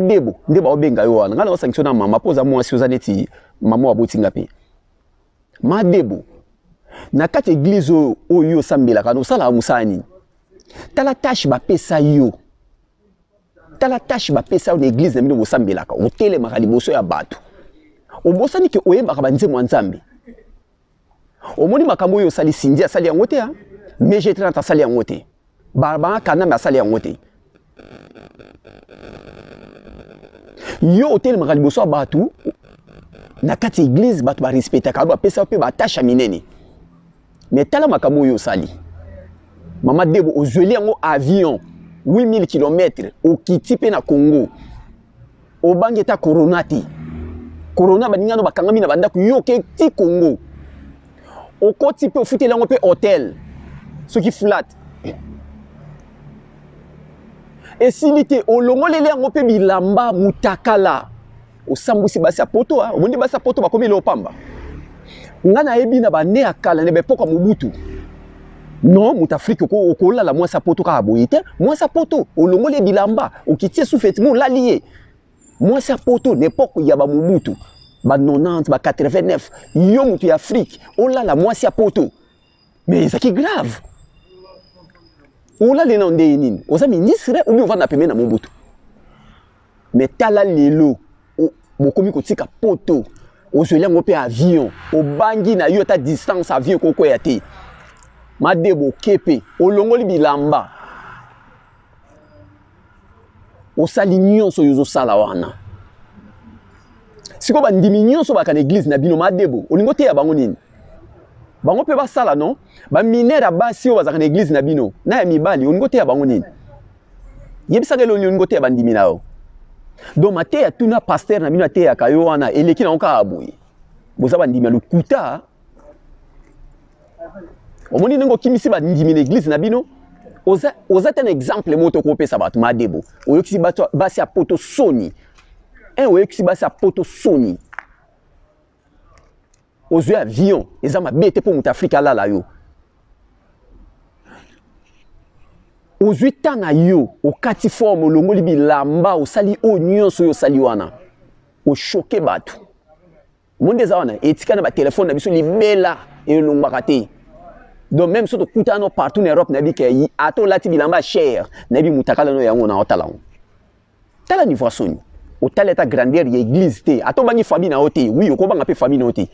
debo nde baobenga yo wana ngai naosangisa na mama mpo oza mwasi oza neti mama waboti nga mpe ma debo na kati eglize oyo oyo osambelaka osalaka mosala nini tala tashe bapesa yo tala tashe bapesa yo na eglize na bino bosambelaka otelemaka liboso ya bato obosani ke oyebaka banzembo ya nzambe omoni makambo oyo osali sindi asali yango te hein? mais je trente asali yango te barbara kaname asali yango te yo otelemaka liboso ya bato na kati ya eglize bato barespectaka yo bapesa mpe batasha minene me tala makambo oyo osali mama debo ozweli yango avion 8000 km okiti mpe na congo obangi ata corona te corona baningano bakangami na bandako yo oke ti congo okoti mpe ofuteli yango mpe hotel soki flat esili te olongoleli yango mpe bilamba mutakala osambwisi basi ya poto ah, omoni basi ya poto bakomi eloo pamba ngai nayebi na bane ya kala na baepoka mobutu non moto afrike okolala mwasi ya poto kaka boye te mwasi ya poto olongoli ye bilamba okiti ye sufi etima olali ye mwasi ya poto na epoke ya bamobutu ba 90 ba 89 yo moto ya afrike olala mwasi ya poto mais ezalaki grave olali nao ndeye nini oza ministre obi ovanda pembe na mobutu me tala lelo bokomi kotika poto ozweli yango mpe avion obangi na yo ata distance avion ekokweya te made bokepe olongoli bilamba osali nyonso oyo ozosala wana sikoyo bandimi nyonso baka na eglize na bino madebo olingi oteya bango nini bango mpe basala no baminere ya basi oyo bazalaka na eglize na bino na ya mibali olingi oteya bango nini yebisaka elongi olingi koteya bandimi na yo donc mateya tuna pasteur na bino ateyaka yo wana eleki nango kaka boye boza bandimi ya lokuta omoni ndenge okimisi bandimi na eglize na bino oza, oza te na exemple moko tokopesa bato madebo oyokisi basi ya poto soni e oyokisi basi ya poto soni ozwi avion eza mabe te mpo moto afrika alala yo ozwi ntan na yo okati forme olongoli bilamba osali oyo nyonso oyo osali wana oshoke bato monde eza wana etika na batelefone na biso libela elongwaka te donc même so tokutana no partout na europe nayebi ke ata olati bilamba ya chere nayebi motakala no yango na otalango tala niveau ya soni otali ata grandeur ya église te ata obangi famille na yo te oui okobanga mpe famille na yo te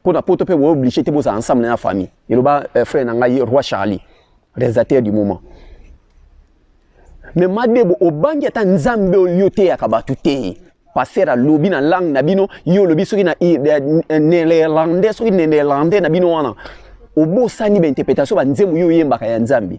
mpo na poto mpe boye oblige te bozala ensemble na ya famille eloba euh, frère na ngai roi charlie réalisateur du moment me madebo obangi ata nzambe oyo oteyaka bato te paster alobi na langue na bino yo olobi soki na eh, eh, néerlandais soki néerlandais na bino wana obosani bainterprétation banzembo yo oyembaka ya nzambe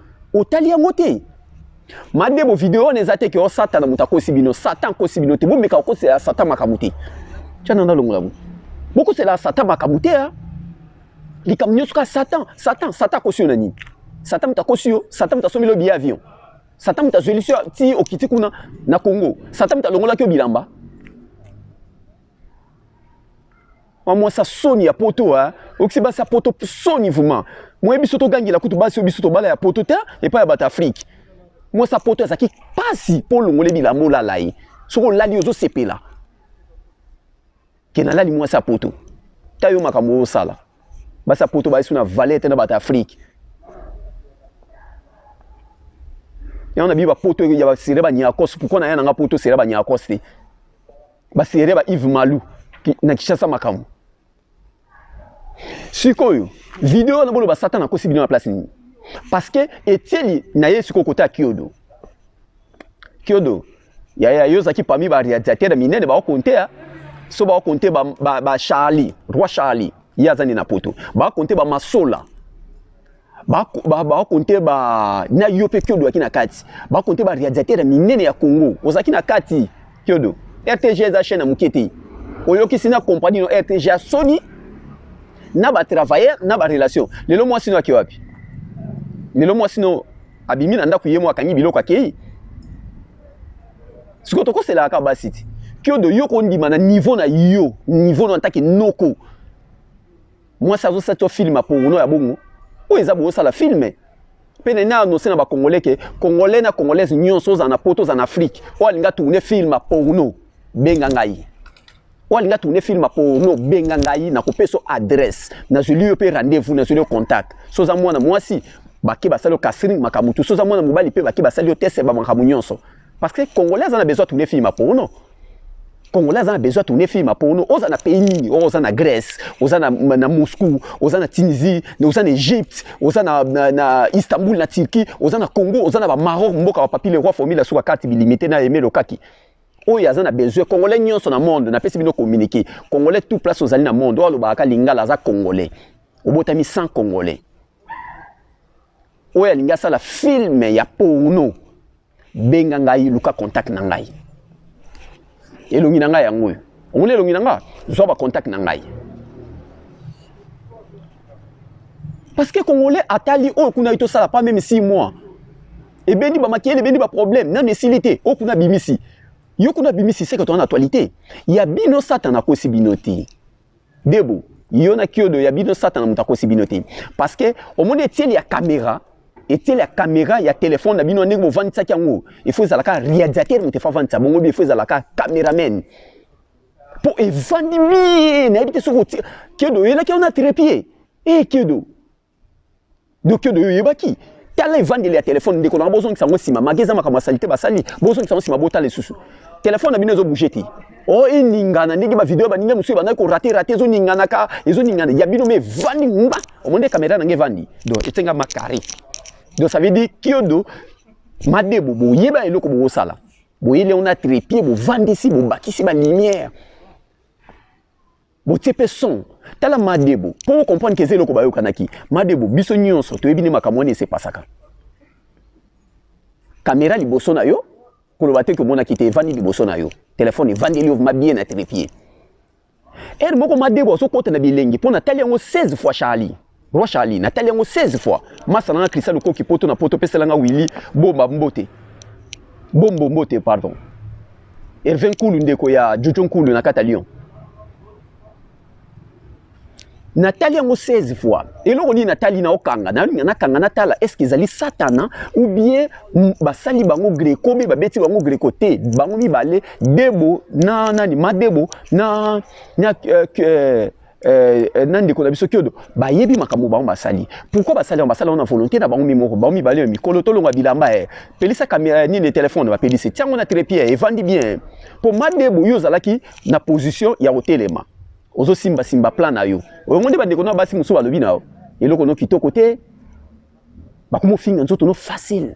otali yango te made bo video wana eza te ke osatana moto akosi bino satan akosi bino te bomeka kokosela satan makambo te tyana nalongola bo bokosela satan makambo te a likambo nyonso kaka satan satan satan akosi yo na nini satan moto akosi yo satan moto asombeli yo biye avion satan moto azwelisi yo ti okiti kuna na congo satan moto alongolaki yo bilamba Wa mwasi ya soni ya poto hein. Okisi basi ya poto soni vraiment. Moye biso togangela kutu basi oyo biso tobala ya poto te epai ya bato Afrique. Mwasi ya poto azalaki mpasi mpo olongole bilamba olala ye. Soki olali ozosepela ke nalali mwasi ya poto. Ta yo makambo oyo osala. Basi ya poto bayesi na valete na bato Afrique. yango na biba poto ya basere banyakos pourkui na ya nanga poto sere banyakos te baserie ba Yves Malu na Kinshasa makambo sikoyo video wana boloba satana akosi bino na place nini parce que etieli na ye sikoyo kota ya kiodo kiodo yaya yo ozalaki parmi barealisateur minene baokontea so baokonte ba, ba, ba charlie roi charlie ye aza nde na poto baokonte bamasola bakonte ba na yo mpe kiodo yaki na kati bakonte ba radiateur ya minene ya congo ozalaki na kati kiodo rtg eza chaine ya moke te oyokisi na compagnie no rtg ya soni na batravailleur na barelation lelo mwasi no ake wapi lelo mwasi no abimi na ndako ye mo akangi biloko akei sikoyo tokoselaka kaka basi ti kiodo yo kondima na niveau na yo niveau no antake noko mwasi azo sati yo film apongono ya bongo oyo eza bozosala filme mpe nene anonse na bacongolais ke congolais na congolaise nyonso ozala na poto ozala na afrike oyo alinga tourne film porno benga ngai oyo alinga tourne film porno benga ngai nakopesa adresse nazweli yo mpe rendez-vous nazweli yo contact so oza mwana mwasi bake basali yo casring makambo tu so oza mwana mobali mpe bake basali yo tese bamakambo nyonso parce que congolais aza na besoin tourne film porno congolais aza na besoin tourne film ya porno oza na pays nini oyo oh, oza na grèce oza na, na moscou oza na tunisie oza na egypte oza na, na, na istanbul na turquie oza na congo oza na bamaroc mboka bapapi le roi formile asuka kati bilimite na aime lokaki oyo aza na besoin congolais nyonso na monde napesi bino communiqué congolais tout place ozali na monde oyo alobaka ka lingala aza congolais obotami sans congolais oyo alingi asala filme ya porno benga ngai luka contact na ngai elongi na ngai yango oyo omoni elongi na ngai zwa bacontact na ngai parce que congolais atali oyo kuna ye tosala pas meme six mois ebendi bamakele ebendi baproblème nano esili te oyo kuna abimisi yo kuna abimisi seke toza na actualité ya bino satana akosi bino te Debo, yo na kiodo ya bino satana moto akosi bino te. Parce que omoni etieli ya kamera, etieli ya kamera ya telefone na bino ndenge bovandisaki yango, il faut ezala kaka realisateur moto efa vandisa bongo bi, il faut ezala kaka cameraman. Mpo evandi bie, nayebi te soki kiodo oyelaki yango na trepied. E eh, kiodo. doki doyo oyebaki tala evandeli ya telefone ndeko nanga bozongisa yango nsima mage eza makambo ya salite basali bozongisa yango nsima botala lisusu telefone na bino ezobouge te o oh, eningana ndenge bavideo baninga mosusu ebandaki korate rate ezoninganaka ezoningana ya bino ma evandi nga omoni kamera nanga evandi do esenga makare do ça veut dire kiodo madebo boyeba eloko bokosala boyeli yango na trepie bovandisi bobakisi balumière botie mpe son tala madebo mpo okomprendre keza eloko bayokanaki madebo biso nyonso toyebi nde makambo wana esepasaka kamera liboso na yo koloba te komonaki te evandi liboso na yo telefone evandeli yo ma bien atrepie ere moko madebo azokota na bilengi mpo natali yango 16 fois charlie Roi Charlie, natali yango 16 fois. Masa nanga Christian Lukoki poto na poto pesela nga Willy bomba mbote. Bombo mbote pardon. Hervé Nkulu ndeko ya Jojo Nkulu na kata Lyon. natali yango 16 fois eloko nini natali na okanga nakanga natala estce ezali satana ou bien basali bango greco mpe babeti bango greco te bango mibale debo na nani madebo na, na uh, uh, Euh, euh, na ndeko na biso kiodo bayebi makambo bango basali pourquoi basali yango basala yango na volonté na bango mimoko bango mibale ya mikolo tolonga bilamba e pelisa kamera nini telefone bapelisi tiango na trepie evandi bien mpo madebo yo ozalaki na position ya kotelema ozosimbasimba plan na yo oyongo nde bandeko na basi mosusu balobi na yo eloko no kitoko te bakomofinga nzoto no facile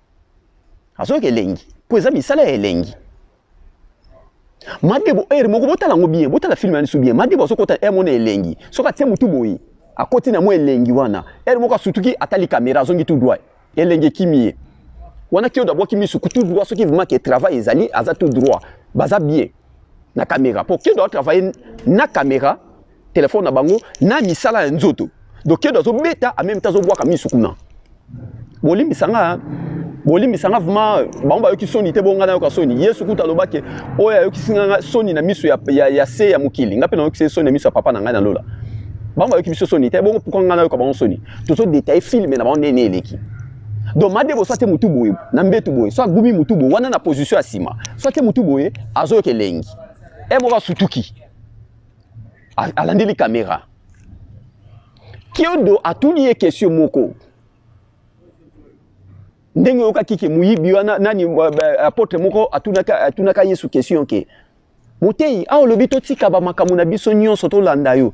azoyoka elengi mpo eza misala ya elengi madebo ere moko botala yango bien botala filme ya lisu bien madebo azokota ere mona elengi soki atie motu boye akoti na mwa elengi wana ere moko asutuki atali kamera azongi tu droit elengi ekimi ye wana kiodo abwaki misu tu droit soki vrima ke travail ezali aza tu droit baza bien na kamera mpo kiodo atravaille na kamera telefone na bango na misala ya nzoto donc kedo azobeta en même temps azobwaka misu kuna bolimbisa nga bolimbisa nga vraimen bango bayoki soni te bonga nayoka soni yesu kuta alobaki oyo ayokisi nga soni na miso ya, ya, ya se ya mokili nga mpe nayokisi soni na miso ya papa na ngai na lola bango bayoki biso soni te bongo pourkua nga nayoka bango soni tozo detaille filme na bango ndene eleki donc madebo soit mutu boye na mbetu boye soit gumi mutu boye wana na position ya nsima soit mutu boye azoyoka elengi e moko asutuki alandeli kamera kiodo atuni ye kesio moko ndenge oyokaki ke moyibi wana nani apotre moko atunaka, atunaka yesu kestion ke motei awa olobi totika bamakambo na biso nyonso tolanda yo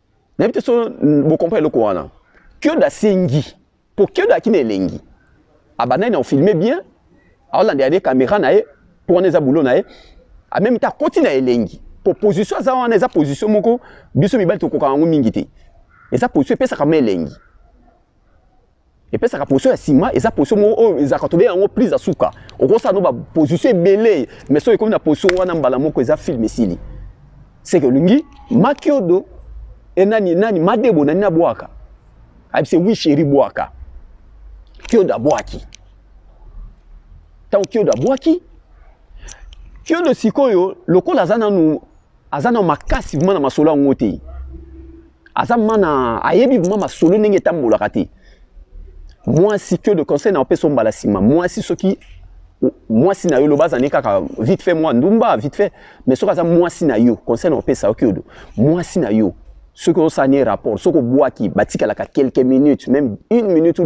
nayebi te so bokompa eloko wana kiodo asengi mpo kiodo akina elengi abandaki na kofilme bien aolandela nde kamera na ye mpo wana eza bulo na ye amemi te akoti na elengi mpo position aza wana eza position moko biso mibali tokokaka yango mingi te eza position epesaka ma elengi epesaka position ya sima eza position moko oyo ezalaka tobenga yango prise ya suka okosala no baposition ebele mais soki ekomi na position wana mbala moko eza filme esili seke olingi makiodo e nani nani madebo nani abwaka ayebise wi sheri bwaka kiodo abwaki ntango kiodo abwaki kiodo sikoyo lokola aza nanu aza na makasi vraiment na masolo yango te aza mana ayebi vraiment masolo ndenge etambolaka te mwasi que de conseil na opesa mbala nsima mwasi soki mwasi na yo loba azali kaka vite fait mwa ndumba vite fait mais soki aza mwasi na yo conseil na opesa oki odo mwasi na yo soki osani rapport soki obwaki batikalaka quelques minutes même une minute ou